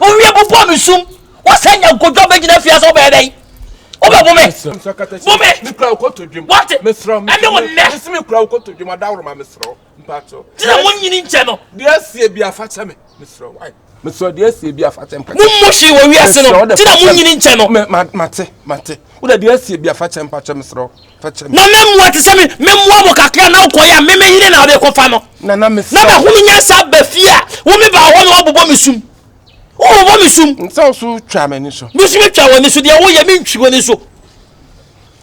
Owie bobɔ me sum. Wɔsɛ nya nkodwa bɛgyina fie ase wobɛyɛ dɛn? Wobɛbo me. Bo me. Wate? Ɛne wo nnɛ. Gyina mo nyini nkyɛ no. Deɛ sie bi afakyɛ me. Mesrɛ wo. Mesrɛ deɛ sie bi afakyɛ mpakyɛ. Mo mo hwee wɔ wiase no. Gyina mo nyini nkyɛ no. Mate, mate. Wode deɛ sie bi afakyɛ mpakyɛ mesrɛ wo. na me mmoa te sɛ me me mmoa mo kakra na wokɔ yɛ a me me yere na ɔde kɔfa no na na me na mahunu nyansa ba fie a wo me ba hɔ na wabobɔ me sum wobobɔ me sum nsa wo so twa m'ani so mesu me twa w'ani so deɛ woyɛ me ntwi w'ani so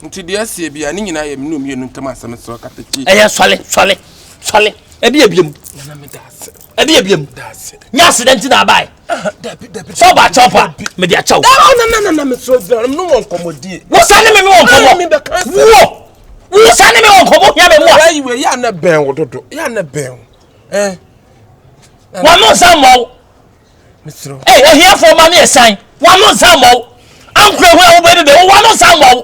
nti deɛ aseɛ bi a ne nyinaa yɛ mene mmienu ntam asɛm sɛ ɔkatakyi ɛyɛ sɔle sɔle sɔle ɛbi abia mu na meda ase ɛde yɛ biam nyɛ aseda nti na abae sɛ ɔba akyɛw pa mede akyɛw wo sa ne me me wɔ nkɔmmɔ wo wo sa ne me wɔ nkɔmmɔ hia me mmoa wano nsa mmɔ wo ee ohiafoɔ ma ne ɛsan wano nsa mmɔ wo ankora hu a wobɛdu de wowano nsa mmɔ wo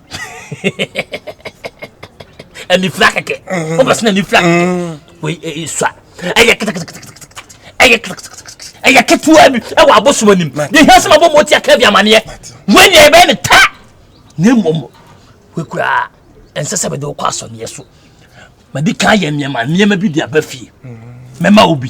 anifira kɛkɛ o bɛ sin anifira kɛkɛ o ye sua ɛyɛ kɛtɛkɛtɛkɛtɛ ɛyɛ kɛtɛkɛtɛkɛtɛ ɛyɛ ketewa bi ɛwɔ abosom anim ne hia sɛ ma bɔ mɔti aka bi amaneɛ wei ne ɛbɛyɛ ne ta ne mmom wei koraa ɛnsɛ sɛ mede wokɔ asɔneɛ so madi kan yɛ nneɛma nneɛma bi de aba fie mɛma wo bi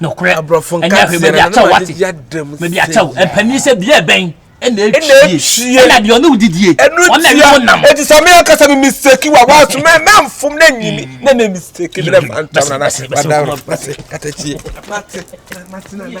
nokorɛ ɛnyɛ ahwɛ baabi akyɛw wate baabi akyɛw mpanyin sɛ bia ɛbɛn ɛna etwie ɛna deɛ ɔne wodidie ɔna ɛne wo nam eti sami akasa mi mistake wa wa so mɛ mɛ nfom na nyimi na ne mistake mi na ntam na na wadaro mate kata tie mate mate na na.